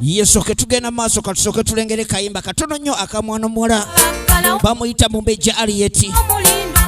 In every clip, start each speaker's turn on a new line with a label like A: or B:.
A: yesooke tugenda maaso katusooke tulengere kayimba katono nnyo akamwana omuwala bamuyita mumbeja aliyeti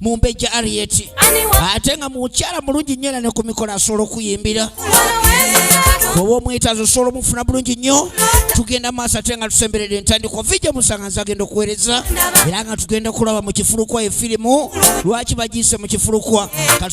A: mumbejja arieti ate nga
B: mukyala
A: mulungi nnyo era ne ku mikolo asobola okuyimbira
B: oba omwetaazi osobola
A: omufuna bulungi nnyo tugenda maaso ate nga tusemberedde entandikwa vijja musanga nze agenda okuweereza era nga tugenda kulaba mu kifulukwa efirimu lwaki bagiise mu kifulukwa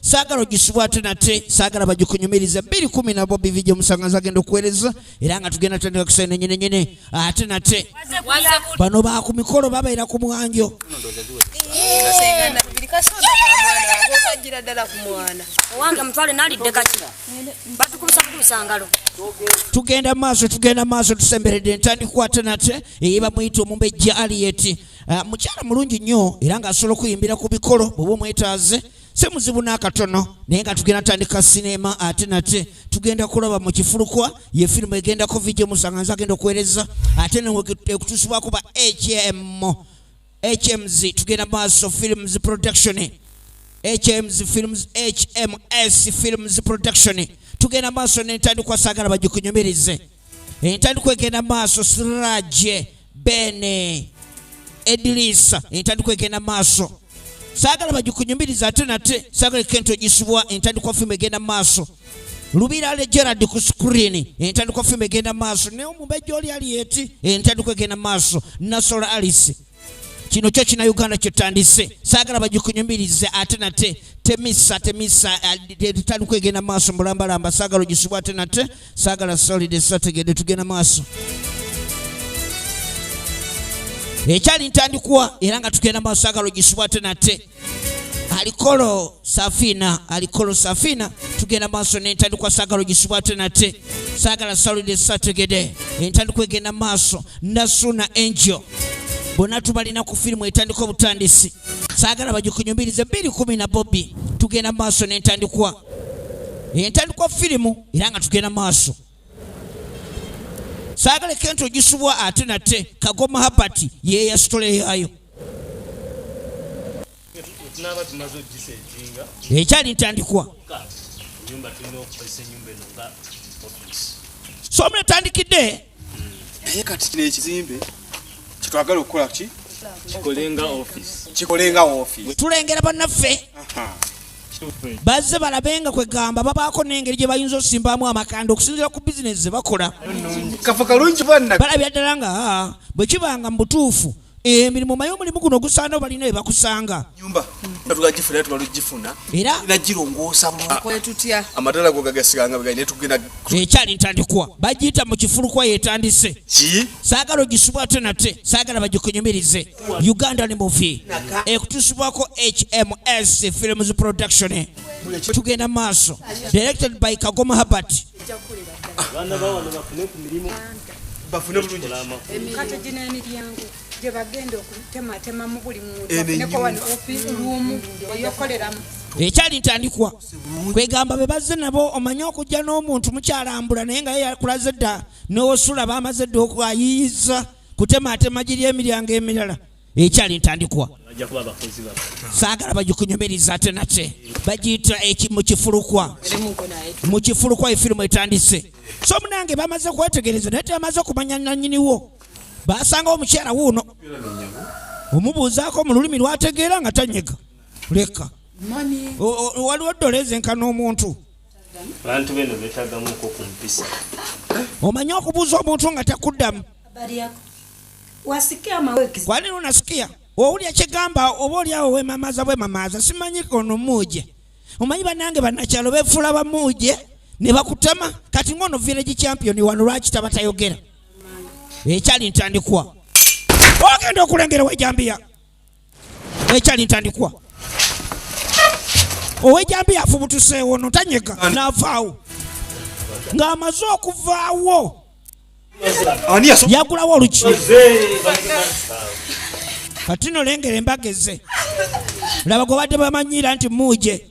A: saagala ogisibwa ate nate saagala bagikunyumiriza bbiri kumi na bobi vijja omusanga zagenda okuweereza era nga tugenda tandika kusayo nenyenenyene ate nate bano ba ku mikolo babeera ku mwanjo
C: tugenda
A: maaso tugenda maaso tusemberedde entandikwa ate nate eyebamuyita omumbejja aliyeti ah, mukyala mulungi nnyo era ng'asobola okuyimbira ku bikolo bweoba omwetaaze si muzibu n'akatono naye nga tugenda tandika sinema ate nate tugenda kulaba mu kifulukwa ye firimu egendako vidio musanga nze agenda okuweereza ate nekutuusibwako ba hmm hms tugenda maaso films production hms films hms films production tugenda maaso nentandikwa saagala bagikunyomereze entandikwa egenda maaso siraje bene edilisa entandikwa egenda maaso sagala bagikunyumiriza ate nate sagala kento gisibwa entandikwa fimu egenda maaso lubira le gerard ku screen entandikwa fimu egenda maaso naye omubejja oli ali eti entandikwa egenda maaso nasola alice kino kyo kina uganda kyotandise saagala bagikunyumirize ate nate temisa temisa eh, tetali kwegenda maaso mulambalamba saagala ogisibwa ate nate saagala solide sategede tugenda maaso ekyali ntandikwa era nga tugenda maaso saagala ogisibwa ate nate alikolo safina alikolo safina tugenda maaso nentandikwa sagala ogisibwa ate nate sagala salide sategede entandikwa egenda maaso nasuna angel bonna tubalina ku firimu etandika obutandisi sagala bagikunyumirize 21 na bobi tugenda maaso nentandikwa entandikwa firimu era nga tugenda maaso saagala kenti ogisubwa ate nate kagoma habati yeyasitoleyayo ekyali ntandikwa somu etandikidde naye
D: kati kino ekizimbe kyetwagala okukola ki kikolenga office tulengera banaffe
A: bazze balabe nga kwegamba babaako n'engeri gye bayinza osimbamu amakanda okusinzira ku bizinesi ze bakola
D: balabya ddala nga
A: bwe kibanga mu butuufu emirimu eh, maye omulimu guno ogusaana obalina ebakusanga
D: ekyali ntandikwa
A: bagiyita mu kifulukwa yetandise saagala ogisubwa ate nate saagala bagikunyumirize ugandan movie ekutusibwako hms films production tugenda maaso directed by kagoma habert
D: bafune bulungi kati gino
E: emiryango gyebagenda okutematema mu buli muntunekowanoluumu eyokoleramu ekyali
A: ntandikwa kwegamba be bazze nabo omanye okujja n'omuntu mukyalambula naye nga ye yakulaze dda n'osula bamaze dda okwayiyiza kutemaatema giri emiryango emirala ekyali ntandikwa saagala bagikunyumiriza ate nate bagiyita mukifulukwa mukifulukwa efirimu etandise so munange bamaze kwetegereza naye tebamaze okumanya nanyiniwo basangawo omukyala wuuno omubuuzaako mu lulimi lwategeera nga tanyega leka waliwo dola ezenkana omuntu abantu
F: beno betagamuko ku mpisa omanyi
A: okubuuza omuntu nga takuddamu kwali lunasikia owulya kyegamba oba olyawo wemamaza bwemamaza simanyi kono muuje omanyi banange banakyalo befuula bamuuje ne bakutama kati ngono village champion wano lwaki taba tayogera ekyali ntandikwa ogenda okulengera wejambiya ekyali ntandikwa owejambi yafubutuseewo no tanyega navaawo ng'amaze okuvaawo yagulawo oluki kati nolengera embaga eze laba gwe badde bamanyiira nti muuje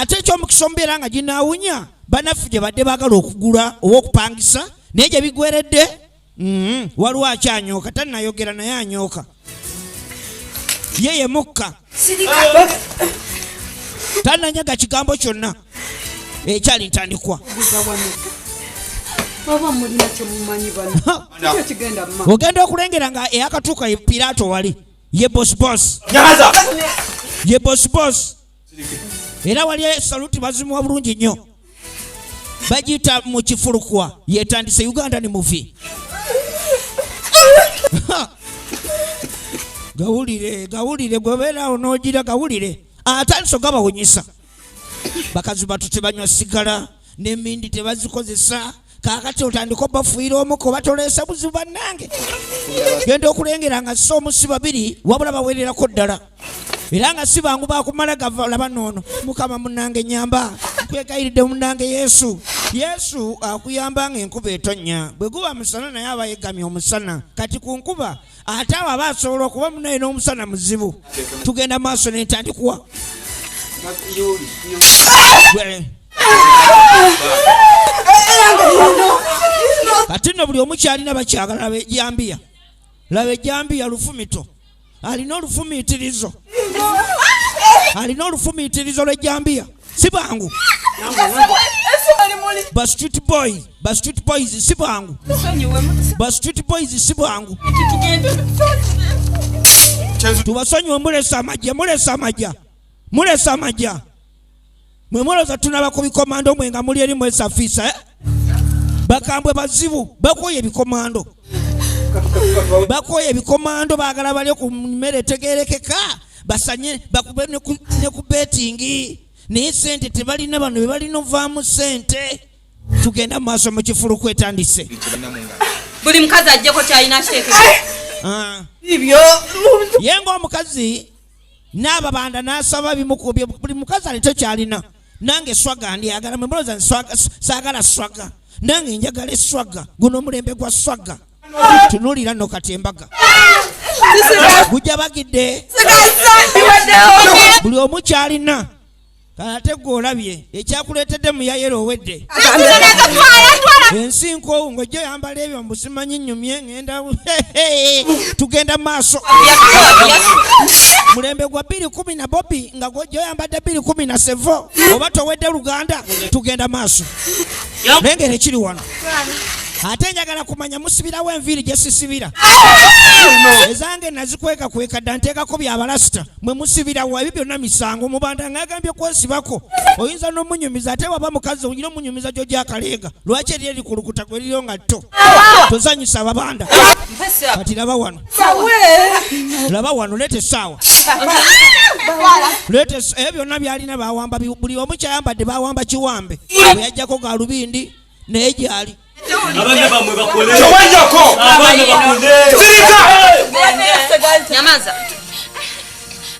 A: ate ekyomukisa omubeera nga ginaawunya banaffe gye badde baagala okugula oba okupangisa naye gye bigweredde mm-hmm. waliwo akyanyooka tannayogera naye anyooka ye ye mukka tannanyaga kigambo kyonna ekyali ntandikwa ogenda okulengera nga eyakatuuka piraato wali ye boss boss nyaza ye boss boss era wali saluti bazimuwa bulungi nnyo bagiyita mu kifulukwa yetandise uganda ni muvi gawulire gawulire gwebeerawo nogira gawulire atandise ogabawunyisa bakazi batu tebanywa sigala nemindi tebazikozesa kakati otandika obafuira omuko batolesa buzibu banange genda okulengera nga si omusi babiri wabula bawererako ddala era nga si bangu bakumala gavalaba noono mukama munange nyamba nkwegayiridde munange yesu yesu akuyamba nga enkuba etonya bwe guba musana naye aba yegamye omusana kati ku nkuba ate awo aba asobola okuba munaye n'omusana muzibu tugenda maaso nentandikuwa kati no buli omu kyalina bakyagala laba ejambiya laba ejambiya lufumito alina olufumiitirizo alina olufumiitirizo lw'ejambiya si bwangu bastreet boy bastreet boys si bwangu bastreet boys si bwangu tubasonyiwe mulesa amajja mulesa amajja mulesa amajja mwe muloza tunaba ku bikomando mwe nga muli eri mwesafiisa eh? bakambwe bazibu bakoye ebikomando bakoye ebikomando bagala balyo ku mmere etegerekeka basanye bakube ne ku betingi naye sente tebalina bano bebalina ovaamu sente tugenda mu maaso mu kifulu kwetandise
G: buli mukazi ajjeko kyalina kitekeibyo
A: ah. ye ngaomukazi n'ababanda n'asaba bimukubye buli mukazi alito kyalina nange swaga ndyagala mwe mulooza saagala swaga nange njagala eswaga guno omulembe gwa swaga tunulira no kati embaga gujja bagidde buli omu kyalina kalate gwe olabye ekyakuleetedde muyayera owedde ensi nkoowu ng'ojja oyambala ebyo mbusimanyi nyumye ngenda tugenda maaso mulembe gwa bbiri kumi na bobi nga gwojja oyambadde bbiri kumi na sevo oba towedde luganda tugenda maaso naye ngera ekiri wano ate njagala kumanya musibirawo enviiri gye sisibira ezange nazikweka kweka dda nteekako byabalasita mwe musibirawo ebyo byonna misango mubanda ngagambye kwesibako oyinza n'omunyumiza ate waba mukazi oyina omunyumiza gyo gyakaleega lwaki eri erikulukuta gwe liryo nga tto tozanyisa ababanda kati laba wano laba wano leeta essaawa leeta ebyo byonna byalina bawamba buli omu kyayambadde bawamba kiwambe bwe yajjako galubindi naye gyali abana bamwe
F: bakole tewajjako abana bakole sirika
G: nyamaza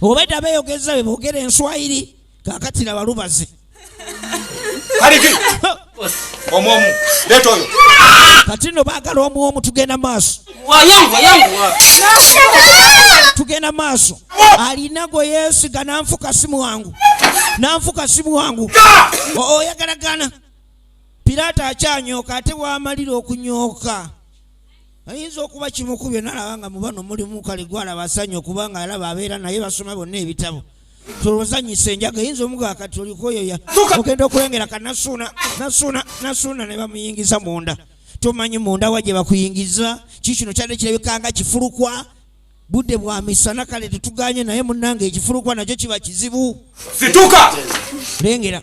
A: obadde abeyogeza bebogera enswayiri kakati na balubazi
D: kaliki omwomu leeta oyo kati no
A: baagala omwomu tugenda maaso tugenda maaso alina gwe yeesiga nanfuka si mwangu nanfuka si mwangu oyagalagana piraato akyanyooka ate waamalira okunyooka ayinza okuba kimu ku byonna alaba nga mubano mulimu kale gwalaba asanya okuba nga alaba abeera naye basoma bonna ebitabo tolozanyisa enjaga eyinza omugaa kati olikoyoya ogenda okulengera ka nasuuna nasuuna nasuuna ne bamuyingiza munda tomanyi munda wa gye bakuyingiza ki kino kyadde kirabika nga kifulukwa budde bwa misana kale tetuganye naye munange ekifulukwa nakyo kiba kizibu situka
D: lengera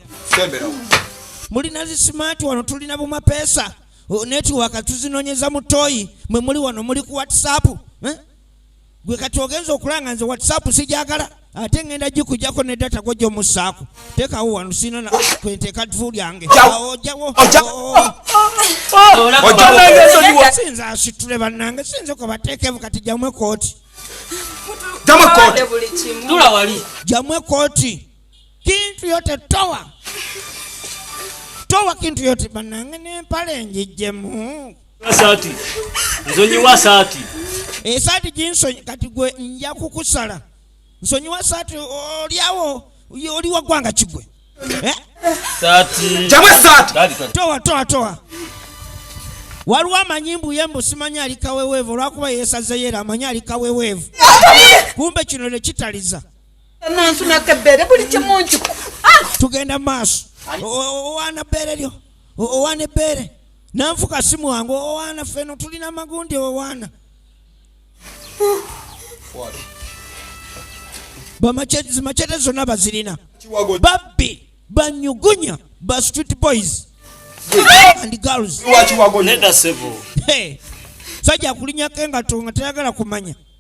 D: mulina
A: zisimaati wano tulina bumapeesa Oh, netiwaka tuzinonyeza mu toyi mwe muli wano muli ku whatsapp eh? gwe kati ogenza okulanga nze whatsapp sijagala ate ngenda gikujako ne data go gyomussaako tekawo wano sina kwenteka dvu lyange ojawo sinza asitule bannange sinza kwebateekevu kati jamwe kooti
G: jamwe kooti
A: kintu yote towa towa kintu yote banange nempale njijjemu saati
F: nsonyiwa saati esaati eh,
A: ginsonyi kati gwe nja kukusala nsonyiwa saati olyawo oli wagwanga kigwe
F: eh?
D: towa towa towa
A: waliwo amanyi mbuye mbu simanyi ali kaweweevu olwakuba yesazeyo era amanyi ali kaweweevu kumbe kino nekitaliza tugenda maaso owaana bbeere lyo owaana ebbeere nanfuka si mwangu owaana feno tulina magundi owaana bamacete zonna bazirina babbi banyugunya ba street boys and girls sajja kulinyako engato nga tayagala kumanya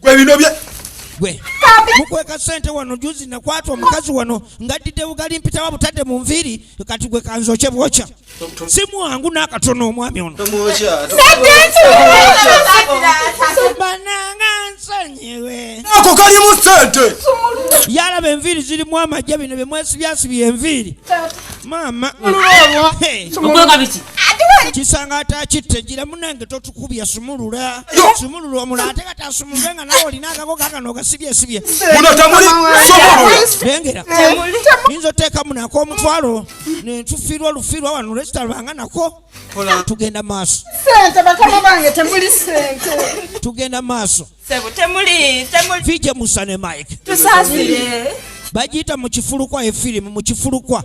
A: gwe bino bye
D: gwe
A: mukweka sente wano juzi nakwata omukazi wano ngaddidde bugali mpitawa butadde mu nviiri kati gwe kanzokye bwokya si mwangu n'akatono omwami ono bananga nsonyiwe ako kalimu
D: sente yalaba
A: enviiri zirimu amajja bino bye mwesibyasibi enviiri maama
G: kisanga
A: atakitte gira munange kubya sumulula sumulula omula ate kati asumulule nga nawe olina akako kakano ogasibye sibye muno tamuli
D: sumululengera
A: yinza oteekamu nako omutwalo nentufiirwa olufiirwa wano lwekitalubanga nako tugenda maaso sente bakama
E: bange temuli sente tugenda
A: maaso sebo temuli
G: temuli fije musane
A: mike tusasire
G: bagiyita mu
A: kifulukwa efirimu mu kifulukwa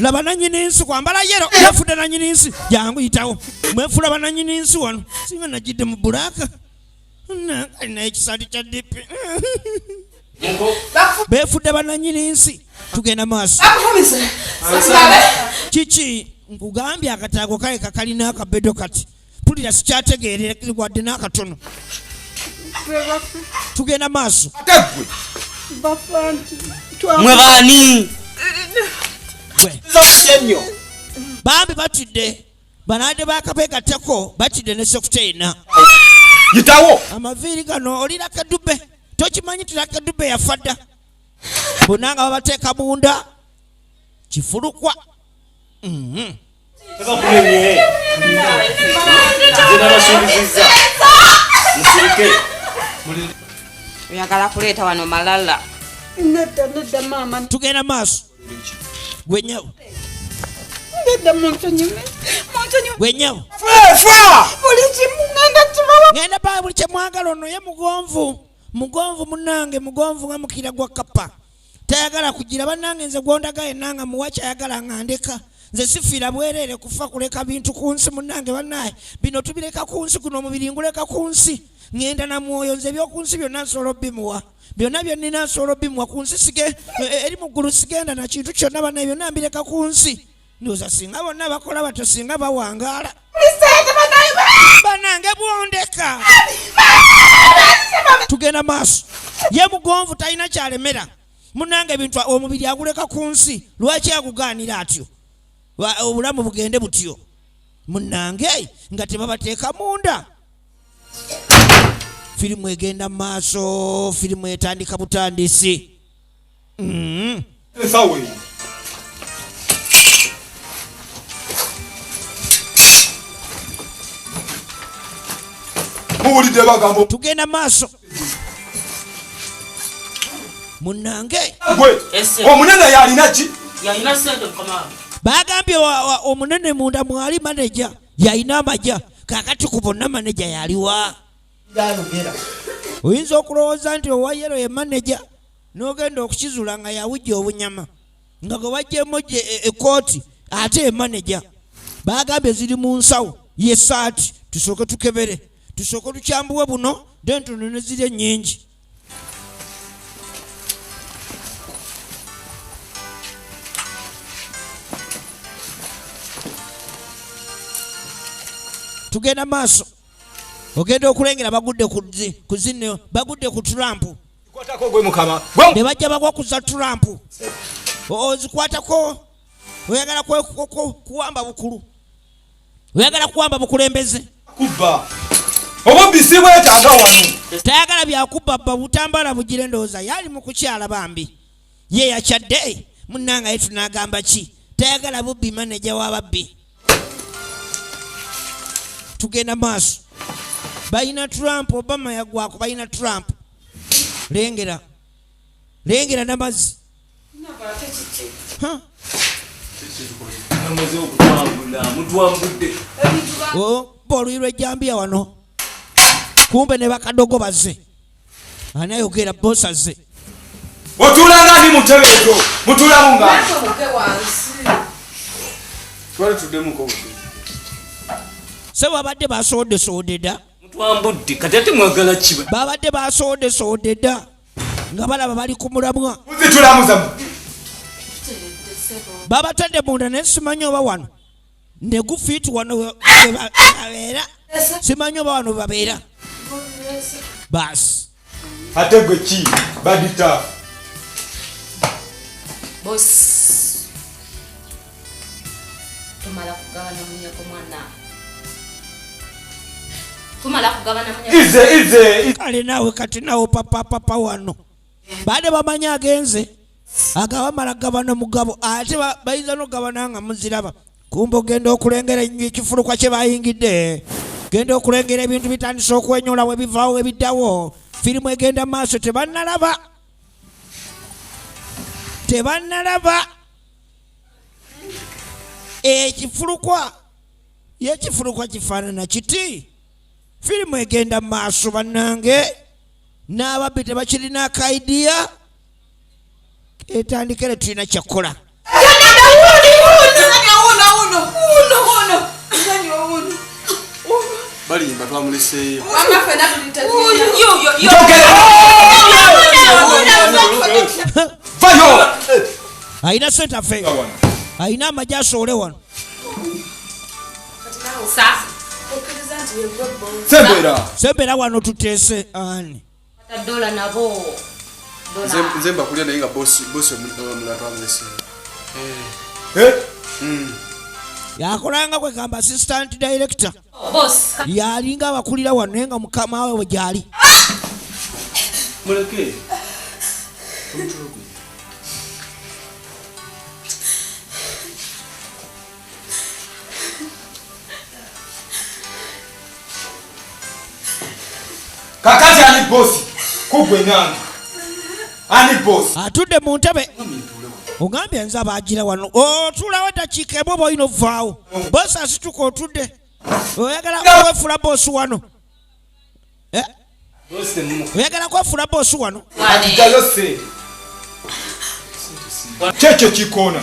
A: laba nanyini nsi kwambala yero yafudde nanyini nsi jangu yitawo mwefula bananyini nsi wano singa najidde mu bulaka alina ekisali kya dipi befudde bananyini nsi tugenda maaso kiki nkugambye akataago kaye kakalina akabedo kati mpulira sikyategeerera wadde n'akatono tugenda maaso
F: mwe baani
A: bambi batidde banade bakabegatako batidde ne sokuteyina yitawo
D: amaviiri gano
A: olina kadube tokimanyi tira kadube yafa dda bonna nga babateeka munda kifulukwa
F: oyagala
G: kuleeta wano malala
E: tugenda maaso
A: gwenyawo
E: gwenyawo ngenda baa buli kyemwagala
A: ono ye mugonvu mugonvu munange mugonvu nga mukira gwa kapa tayagala kugira banange nze gwondaga yenna nga muwa kyayagala nga ndeka nze sifiira bwereere kufa kuleka bintu ku nsi munange banaye bino tubireka ku nsi guno omubiri nguleka ku nsi ŋenda na mwoyo nze ebyoku nsi byonna nsobola obimuwa byonna byennina nsobola obimuwa ku nsi e, e, eri mu ggulu sigenda na kintu kyonna banaye byonna mbireka ku nsi ndoza singa bonna bakola batyo singa bawangaala banange bwondeka tugenda maaso ye mugonvu talina kyalemera munange ebintu omubiri aguleka ku nsi lwaki agugaanira atyo obulamu bugende butyo munange nga tebabateeka munda firimu egenda mu maaso firimu etandika butandisi mm.
D: muwulidde bagambo tugenda maaso
A: munange
D: omunene yalina ki
F: bagambye
A: omunene munda mwali maneja yalina amaja kakati ku bonna maneja yaliwa byayogera oyinza okulowooza nti owayero ye maneja n'ogenda okukizula nga yawujja obunyama nga gwe wajjemu gye ekooti e, ate emaneja baagambye ziri mu nsawo yesaati tusooke tukebere tusooke tukyambuwe buno dentono ne ziri ennyingi tugenda maaso ogenda okulengera bagudde ku zinno bagudde ku trump
D: ne bajja bagwa kuza
A: trump ozikwatako oyagala kuwamba bukulu oyagala kuwamba bukulembeze
D: obubisi bwetaaga wano tayagala byakubba
A: bba butambala bugira endowooza yaali mu kukyala bambi ye yakyadde munangaye tunagamba ki tayagala bubbi maneja wababbi tugenda maaso balina trump obama yagwako balina trump lengera lengera namazzi oh, boluyi lwejambiya wano kumbe ne bakadogo baze anayogera bosaze otulanga
D: ndi mutebe ezo mutulamu nga
A: se babadde basoodesodeda mutwambudde kati
F: ate mwagala kiba babadde
A: basoodesodeda nga balaba bali ku mulamwa muzitulamuzamu babatadde munda naye simanyi oba wano ne gufiiti wano webabeera simanyi oba wano babeera baasi ate gwe ki
D: badita
G: tumala kugabana munyako mwana tumala
D: kugabana munyako ize ize kale nawe kati
A: nawo papa papa wano baade bamanyi agenze agabamala gabana mugabo ate bayinza nogabana nga muziraba kumba ogenda okulengera enyo ekifulukwa kye bayingidde genda okulengera ebintu bitandise okwenyola we bivaawo ebiddawo firimu egenda maaso tebanalaba tebanalaba ekifulukwa yekifulukwa kifaanana kiti firimu egenda maaso bannange n'ababbi tebakirina akaidiya etandikere tulina kyakukola balimba
D: twamuleseeyo
A: alina sente afeeyo alina amagye asoole wano sebera wano tuteese ani
D: nze mbakulya naye nga bosi omulatwamulese eh. eh? hmm.
A: yakolanga kwegamba assistant director
G: yalinga abakulira
A: wano naye nga mukama we gyali
D: kakati ani bosi kugwe nange ani bosi atudde mu ntebe
A: ogambye nze abagira wano otulawo eddakiika emu oba olina ovaawo bosi asituka otudde oyagala kwefula bosi wano eh? oyagala kwefula bosi wano
D: kyekyo kikoona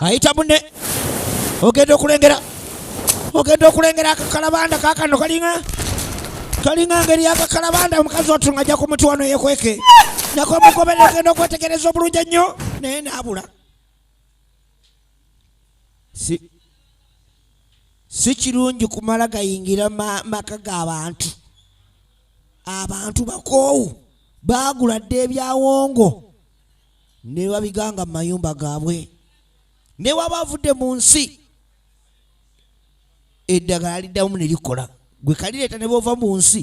A: ayita munne ogenda okulengera ogenda okulengera akakalabanda kakano kalinga kalinga ngeri yakakalabanda omukazi otu nga ajja ku muti wano yekweke nakomugobere ogenda okwetegereza obulungi ennyo naye naabula si kirungi kumala gayingira maka g'abantu abantu bakoowu baagula dda ebyawongo ne babiganga mu mayumba gaabwe ne waba avudde mu nsi eddagala liddamu ne likola gwe kalireeta ne bova mu nsi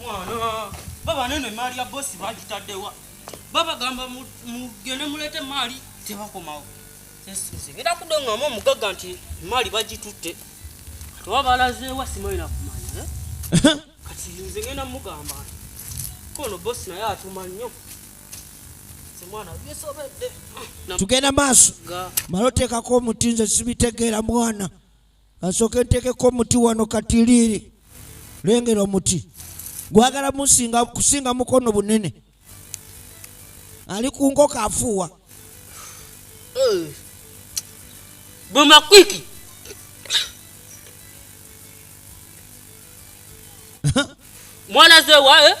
H: mwana baba neno emaali ya bosi bagitaddewa babagamba mugende muleete emaali tebakomawo era kudongamu omugagga nti emaali bagitutte oba balazeewa simalina kumanya eh? kati nze ngenda mugamba kono bosi naye atuma nnyo tugenda
A: maaso mala oteekako omuti nze sibitegeera mwana kasooke nteekeko omuti wano katiriiri lengera omuti gwagala musinga kusinga mukono bunene ali ku nkoko afuuwa
H: eh. bwemakwiki mwana zewa eh?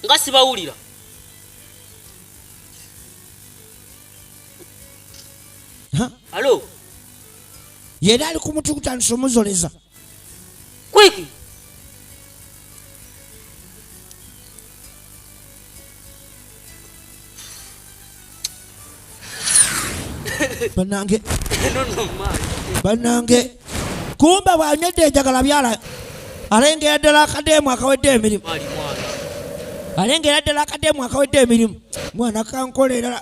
H: nga sibawulira alo
A: yena ali kumuti kutandisa omuzoleza
H: kwiki
A: banange banange kumba bwanywedde enjagala byala alengera ddala akadeemu akawedde emirimu alengera ddala akadeemu akawedde emirimu mwana kankolera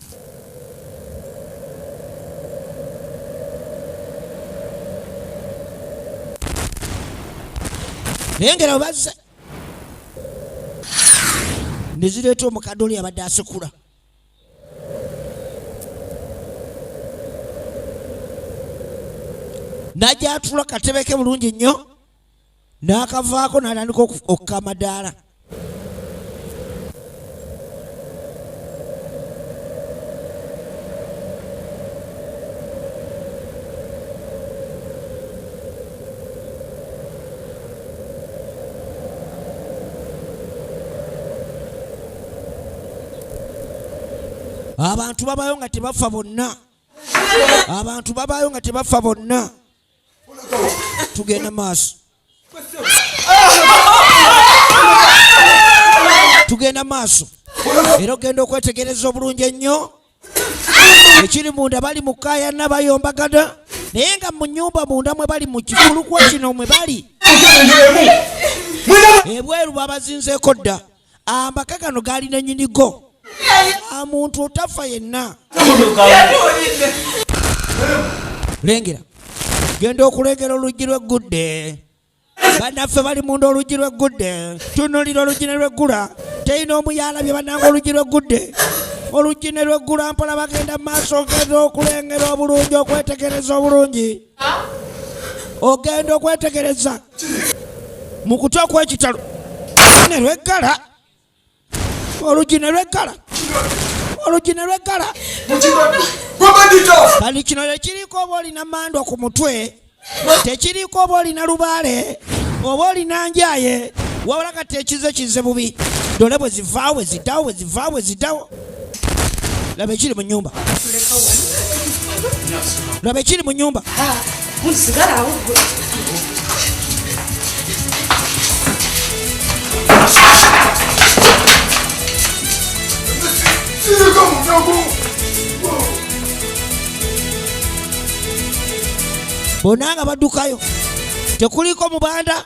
A: nengera bazze nezireeta omukadde oli abadde asikula najja atula katebeke bulungi nnyo n'akavaako n'atandika okukka amadaala abantu babayo nga tebafa bonna abantu babayo nga tebafa bonna tugende maaso tugenda maaso era ogenda okwetegereza obulungi ennyo ekiri munda bali mu kayana bayombagana naye nga mu nyumba munda mwe bali mu kifulukwa kino mwe bali ebweru babazinzeeko dda amaka gano gaali nanyinigo amuntu otafa yenna lengera genda okulengera oluggi lweggudde banaffe bali munda oluggi lweggudde tunulira oluggi ne lweggula teyina omu yalabye bananga oluggi lweggudde oluggi ne lweggula mpola bagenda mu maaso ngeza okulengera obulungi okwetegereza obulungi ogenda okwetegereza mu kutya okwekitalo ne lweggala olugi ne lweggala olugi ne lweggala kati kino tekiriiko oba olina mandwa ku mutwe tekiriiko oba olina lubaale oba olina njaye wabula kati ekize kize bubi dole bwe zivaawo bwe ziddawo bwe zivaawo bwe ziddawo laba ekiri mu nyumba laba ekiri mu nyumba bonna nga baddukayo tekuliko mubanda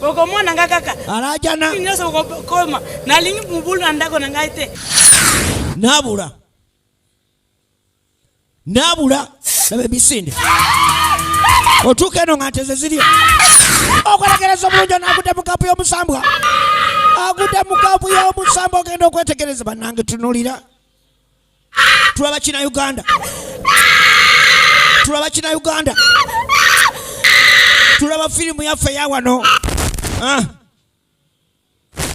E: okomona nga kaka alajana nyonso
A: okokoma
E: nalingi mobulu na ndako na ngai te
A: nabula nabula laba emisinde otuuka eno nga nteze ziri okwetegereza obulungi onaagudde mu kapu y'omusambwa agudde mu kapu y'omusambwa ogenda okwetegereza banange tunulira tulaba kina uganda tulaba kina uganda tulaba firimu yaffe yawano ah.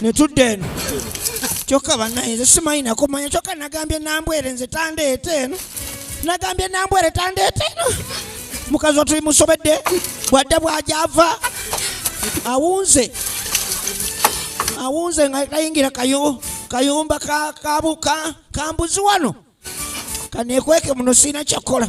A: netudda eno kyokka banaye nze simanyi nakumanya kyokka nagambye nambwere nze tandeeta eno nagambye nambwere tandeeta eno mukazi watu bimusobedde bwadda bwajava awunze awunze nga kayingira kayumba kabuka kambuzi wano kanekweke muno sirina kyakukola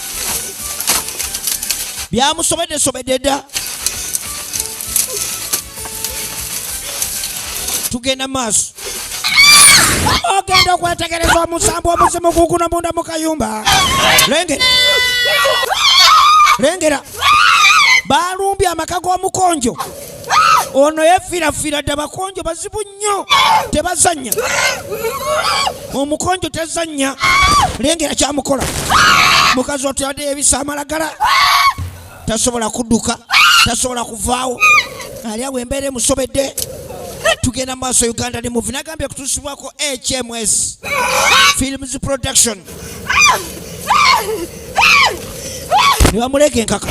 A: byamusobedde sobedde dda tugenda maaso ogenda okwetegereza omusambu omuzimu guguno munda mu kayumba lengera lengera balumbye amaka g'omukonjo ono yefirafira dda bakonjo bazibu nnyo tebazanya omukonjo tezanya lengera kyamukola mukazi otuyadeyo ebisa amalagala tasobola kuduka tasobola kuvaawo ali awo embeera emusobedde tugenda mu maaso uganda ne muvi nagambye kutuusibwako hms films production ne bamuleeka enkaka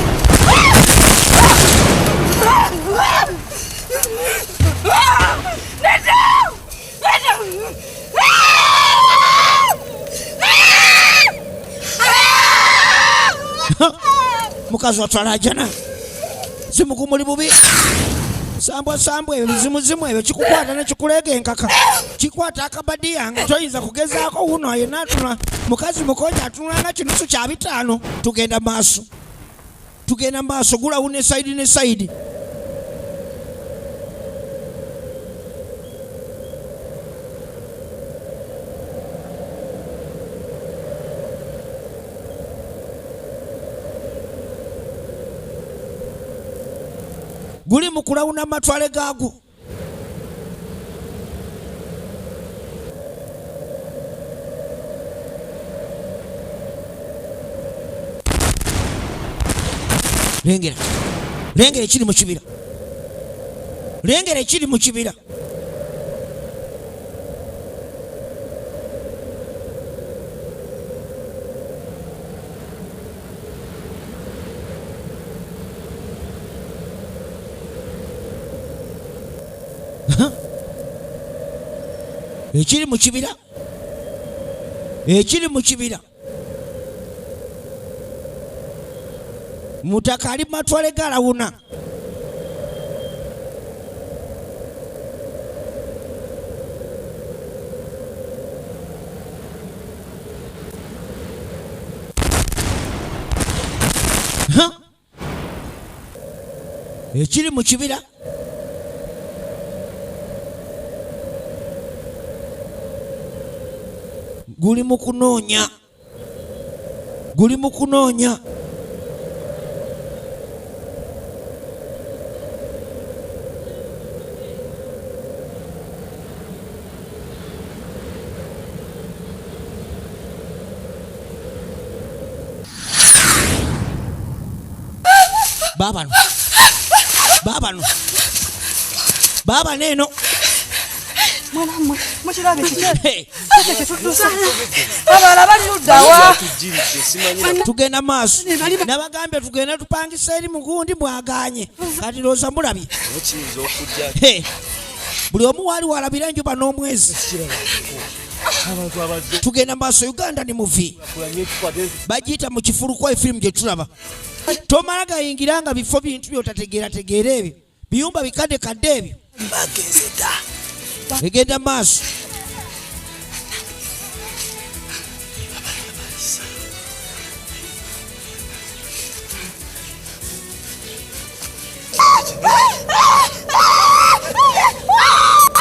A: mukazi watwala ajana zimugu muli bubi sambwa sambwa ebyo bizimuzimu ebyo kikukwata nekikuleega enkaka kikwata akabadi yange toyinza kugezaako wuno yena atula mukazi mukonya atunulanga kinusu kya bitaano tugenda maaso tugenda maaso gulawu ne sayidi ne sayidi guli mu kulawuna matwale gaagwo lengera lengera ekiri mu kibira lengera ekiri mu kibira ekiri mu kibira ekiri mu kibira mutaka ali mumatwale galawuna ekiri mu kibira guli mu kunoonya guli mu kunoonya
E: babano babano
A: babano eno tugenda maaso nabagambye tugenda tupangisa eri mugundi mwaganye kati loza mulabye buli omu waali walabira enjuba n'omwezi tugenda maaso uganda ni muvi bagiyita mu kifulukwa efirimu gye tulaba tomala gayingira nga bifo bintu byotategeerategeera ebyo biyumba bikadde kadde ebyo egenda maaso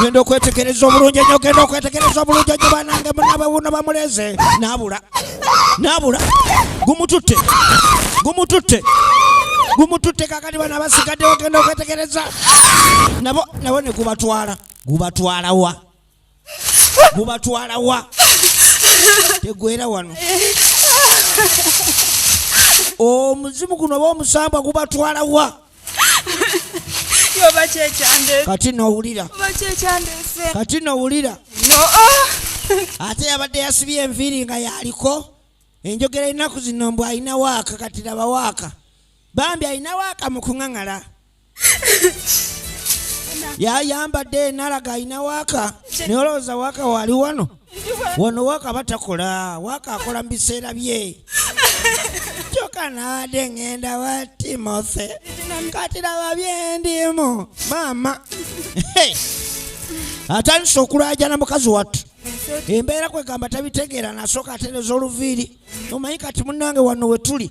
A: genda okwetegereza obulungi enyo genda okwetegereza obulungi enyo banange munabe wuno bamuleze nabula nabula gumututte gumututte gumututte kakati bana basigaddewo genda okwetegereza nabo nabo ne gubatwala gubatwalawa gubatwala wa tegwera wano omuzimu guno oba omusambwa gubatwala wa
E: kati nowulira
A: kati nowulira oh. ate yabadde yasibye enviiri nga yaliko enjogera ennaku zino mbu alina waaka kati laba waaka bambi alina waaka mu kuŋaŋala yayambadde nalaga alina waaka naye olowooza waaka wali wano wano waaka batakola waaka akola mu biseera bye kyoka naade ngenda wa timothy kati laba byendimu maama atandise okulajana mukazi wattu embeera kwegamba tabitegeera nasooka atereza oluviiri omanyi kati munange wano wetuli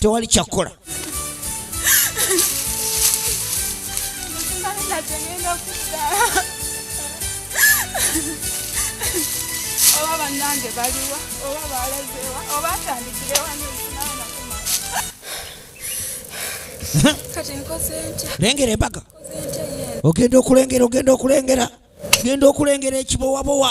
A: tewali kyakukola
E: oba banange baliwa oba balezewa oba atandikirewa lengera embaga
A: ogenda okulengera ogenda okulengera genda okulengera ekibowabowa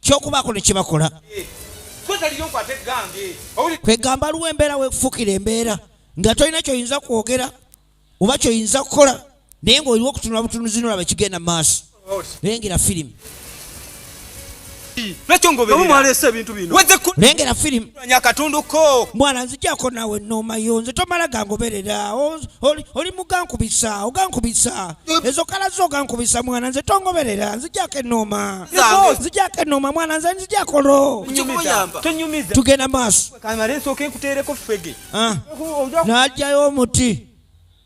A: kyokubaako ne kyebakola
D: kwegamba aliwo
A: embeera wekufukira embeera nga tolina kyoyinza kwogera oba kyoyinza kukola naye ngaoliwo okutunula butunuzi nolaba ekigenda mu maaso oh, lengera firimu lengera firimu akatundu ko mwana nzijako nawe noma yo nze tomala gangoberera oli mugankubisa ogankubisa ezo kala zo ogankubisa mwana nze tongoberera nzijako enoma nzijako enoma mwana nze nzijako lo tugenda maaso ah. najayo omuti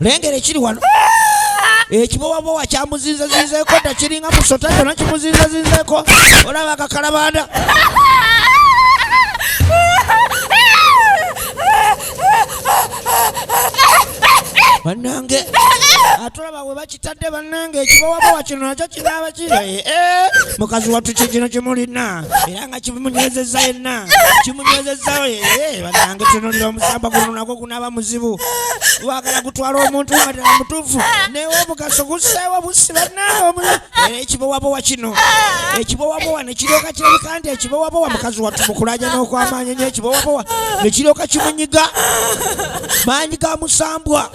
A: lengera ekiri wano ekibowabowa kyamuzinzazinzeeko dda kiringa musota kyona kimuzinzazinzeeko olaba kakalabanda banange atulaba webakitadde bannange ekibowabowa kino nakyo kiraaba kiri eh, eh. mukazi wattu kikino kimulina era nga kimunyezeza yenna kimunyezezawo eh, bannange tunulira omusamba guno nagwo gunaaba muzibu wagala gutwala omuntu nga tera mutuufu naye omugaso guseewo busi bannange era ekibowabowa kino ekibowabowa nekiryoka kirabika nti ekibowabowa mukazi wattu mukulaja n'okwamaanyi nyo ekibowabowa nekiryoka kimunyiga maanyi ga musambwa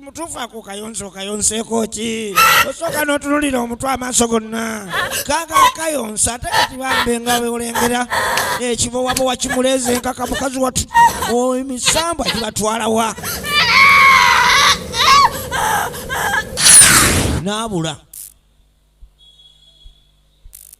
A: mutuufu ako kayonza okayonseeko ki osooka n'otunulira omutwe amaaso gonna kaaga kayonsa ate kati bambe nga beolengera ekibowabowa kimuleeze enkaka mukazi watu emisambwa gibatwalawa n'abula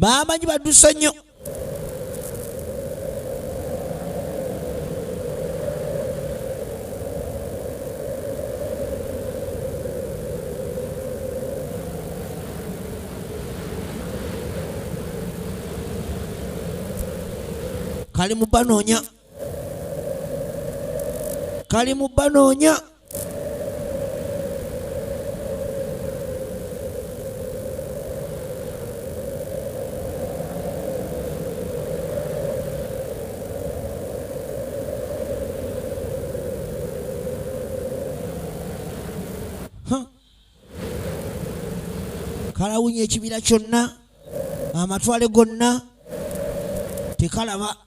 A: bamanyi badusa nnyo kali mu banoonya kali mu banoonya kalawunya ekibira kyonna amatwale gonna tekalaba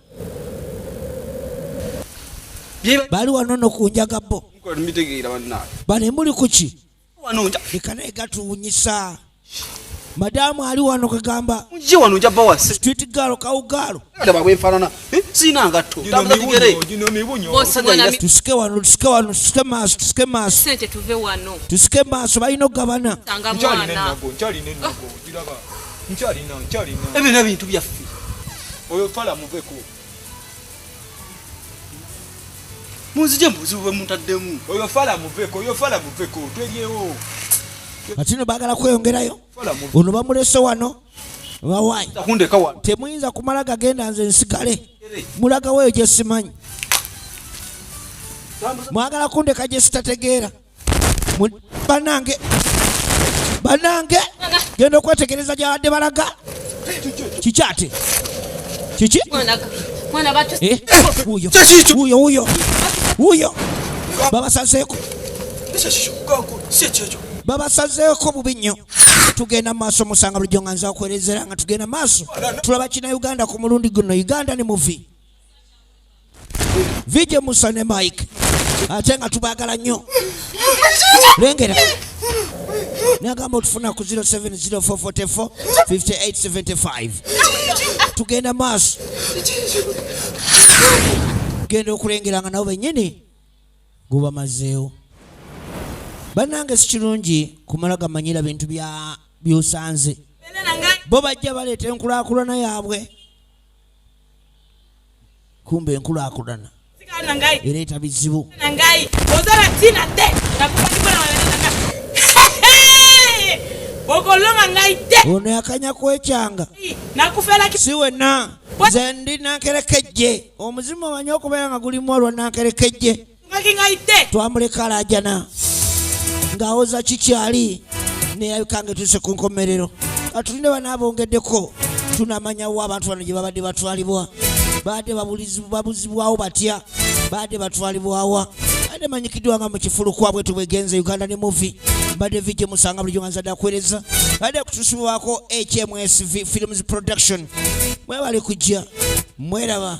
A: bali wano no ku njaga bo bane muli kuki leka naye gatuwunyisa madamu ali wano kagamba
F: street galo kawugalo
A: eh, tusike wano
F: tusike
A: wano tusike maaso tusike maaso
G: tusike maaso balina
A: okugabana
D: ebyo nebintu byaffe
F: oyo fala
D: muveko
F: munzije mubuzibu bwe muntaddemu oyo fala muveko
D: oyo fala muveko twelyewo kati
A: no bagala kweyongerayo ono bamulese wano bawayi
F: temuyinza kumala gagenda
A: nze nsigale mulagaweyo gyesimanyi mwagala kundeka gyesitategeera banange banange genda okwetegereza gyabadde balaga kiki ate kiki eh? wuyo wuyo wuyo babasazeeko babasazeeko bubi nnyo tugenda maaso musanga bulijjo nga nzakwerezera nga tugenda maaso tulaba kina uganda ku mulundi guno uganda ne muvi Vije Musa ne Mike ate nga tubagala nnyo lengera nagamba otufuna ku 0704445875 tugenda maaso genda okulengera nga nabo benyini gubamazeewo bannange si kirungi kumala gamanyira bintu byosanze bo bajja baleeta enkulakulana yaabwe kumbe enkulaakulana ereeta bizibu ono yakanya kwekyanga si wenna nze ndi nankerekejje omuzimu omanyi okubeera nga gulimu olwa nankerekejje twamuleka alajana ng'awoza kikyali neyabika nga etuuse ku nkomerero atulinde bana abongeddeko tunamanyawo abantu bano gye babadde batwalibwa baadde babuzibwawo batya baadde batwalibwawa ade manyikiddwa nga mu kifulu kwabwe tubwegenze uganda ne muvi mbadde vije musanga bulijo nga nzadde akuwereza baadde kutusibwako hmsv films production mwebali kujja mweraba